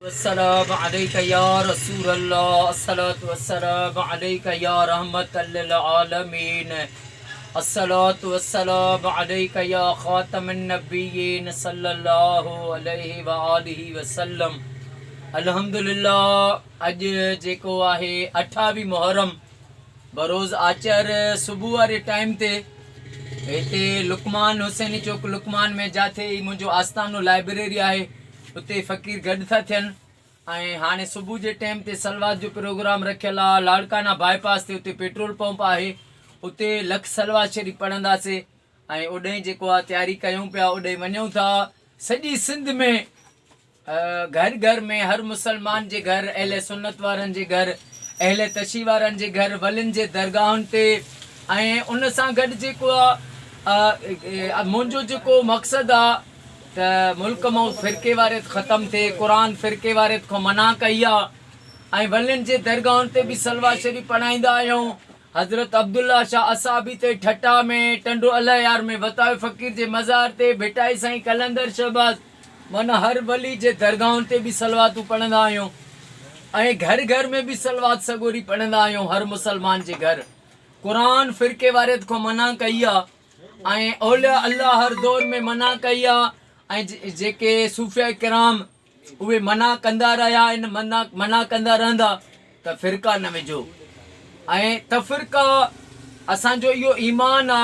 والسلام عليک يا رسول الله الصلوة والسلام عليک يا رحمة للعالمين الصلوة والسلام عليک يا خاتم النبيين صلي الله عليه وآله وسلم الحمدلله اڄ جيڪو آهي اٺاويهه محرم بروز آچر صبح واري ٽائيم تي هتي لقمان حسيني چوڪ لقمان ۾ جاٿي هي منهنجو آستانو لائبريري آهي اتي فقير گڏ ٿا ٿين ۽ هاڻي صبح جي ٽيم تي صلوات جو پروگرام رکيل آ لاڙڪانا باء پاس تي اتي پيٽرول پمپ آهي اتي لک صلوات شريف پڙهنداسي ۽ اوڏهين جيڪو آ تياري ڪيون پيا اوڏهين وڃون ٿا سڄي سنڌ ۾ گهر گهر ۾ هر مسلمان جي گهر اهل سنت وارن جي گهر اهل تشي وارن جي گهر ولين جي درگاهن تي ۽ ان سان گڏ جيڪو آ منهنجو جيڪو مقصد آ ته ملڪ مئن فرقيواريت ختم ٿئي، قرآن فرقيواريت کان منع ڪئي آ ۽ ولين جي درگاهن تي به صلوات شريف پڙهائيندا آهيون، حضرت عبدالله شاهه اصحابي تي ٺٽا ۾ ٽنڊو الهيار ۾ وتايو فقير جي مزار تي ڀٽائي سائين قلندر شهباز مئن هر ولي جي درگاهن تي به صلواتون پڙهندا آهيون ۽ گهر گهر ۾ به صلوات سڳوري پڙهندا آهيون هر مسلمان جي گهر قرآن فرقيواريت کان منع ڪئي آ. ۽ اولياء الله هر دور ۾ منع ڪئي آ ۽ جيڪي صوفياء ڪرام اهي منع ڪندا رهيا آهن منع منع ڪندا رهندا ته فرقا نه وجهو ۽ تفرقا اسان جو اهو ايمان آ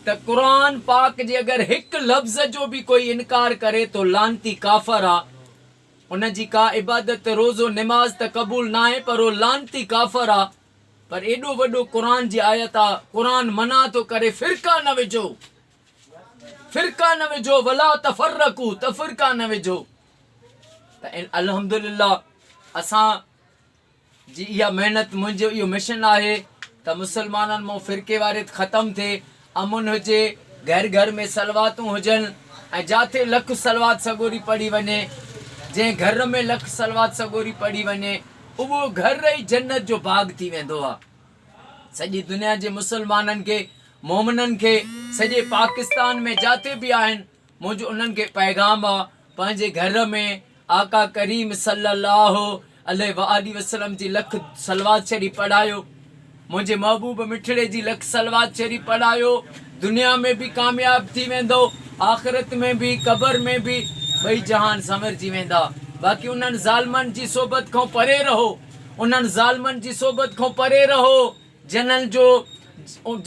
ته قرآن پاڪ جي اگر هڪ لفظ جو به ڪوئي انڪار ڪري ٿو لعنتي ڪافر آ ان جي ڪا عبادت روزو نماز ته قبول ناهي پر هو لعنتي ڪافر آ پر ايڏو وڏو قرآن جي آيت آ قرآن منع ٿو ڪري فرقا نه وجهو فرقا نه وجهو ولا تفرقو تفرقا نه وجهو ته الحمدلله اسان جي اها محنت منهنجو اهو مشن آهي ته مسلمانن مون فرقي واريت ختم ٿئي امن هجي، گهر گهر ۾ صلواتون هجن ۽ جاٿي لک صلوات سڳوري پڙهي وڃي، جنهن گهر ۾ لک صلوات سڳوري پڙهي وڃي، اهو گهر ئي جنت جو باغ ٿي ويندو آ. سڄي دنيا جي مسلمانن کي، مومنن کي، سڄي پاڪستان ۾ جاٿي به آهن، منهنجو انهن کي پيغام آ پنهنجي گهر ۾ آقا ڪريم صلي الله عليه وآله وسلم جي لک صلوات شريف پڙهايو منهنجي محبوب مٺڙي جي لک صلوات شريف پڙهايو دنيا ۾ به ڪامياب ٿي ويندو آخرت ۾ به قبر ۾ به ٻئي جهان سنورجي ويندا باقي انهن ظالمن جي صحبت کان پري رهو انهن ظالمن جي صحبت کان پري رهو جنھن جو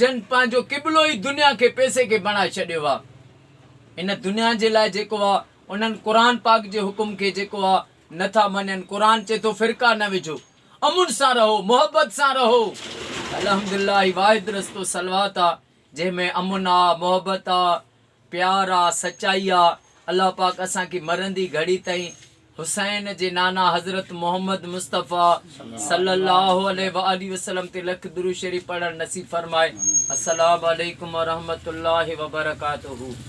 جن پنھنجو قبلو ئي دنيا کي پئسي کي بڻائي ڇڏيو آ ان دنيا جي لاء جيڪو آ انھن قرآن پاڪ جي حڪم کي جيڪو آ نٿا مڃن قرآن چئي ٿو فرقا نه وجھو امن سان رھو محبت سان رھو الحمدالله ھي واحد رستو صلوات آ جنھن ۾ امن آ محبت آ پيار آ سچائي آ الله پاڪ اسان کي مرندي گهڙي تائين حسين جي نانا حضرت محمد مصطفي صلي الله عليه واٰله وسلم تي لک درود شريف پڙهڻ نصيب فرمائي السلام عليڪم ورحمة الله وبرڪاته.